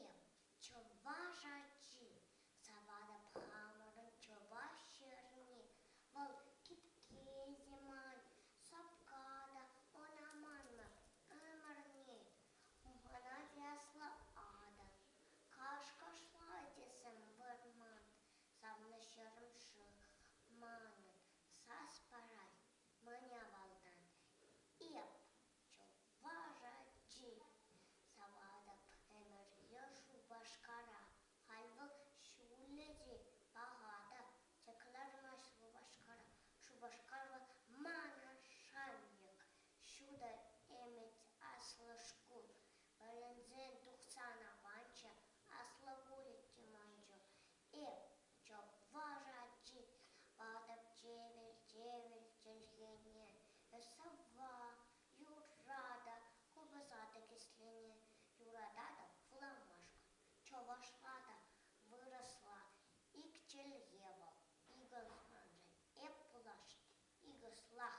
Эп чӑваш ачи, саватӑп хамӑрӑн чӑваш ҫӗрне. Вӑл кипке те ман, сапка та ӑна маннӑ ӗмӗрне. Мана яслататӑн, кашкашлатесем вырман, савнӑҫӑрӑм шыв манӑн сас парать мӗн авалтан. Эп Лашаччи саватӑп ӗмӗр е Шупашкара, халь вӑл ҫулӗ те паха та. Те кӑлармасть Шупашкара. Шупашкар вӑл ман шанчӑк. Ҫутӑ ӗмӗт, аслӑ шкул. Вӗренсе тухсан аванччӗ, аслӑ пулӗ те манччӗ. Эп чӑваш ачи патӑп чевер чӗлхене, сӑвва, юрра та куласа та кӗслене. Юрататӑп вуламашкӑн чӑвашла та вырӑсла. Ик чӗлхе вӑл икӗ ӑсманшӑн эп пулас икӗслах.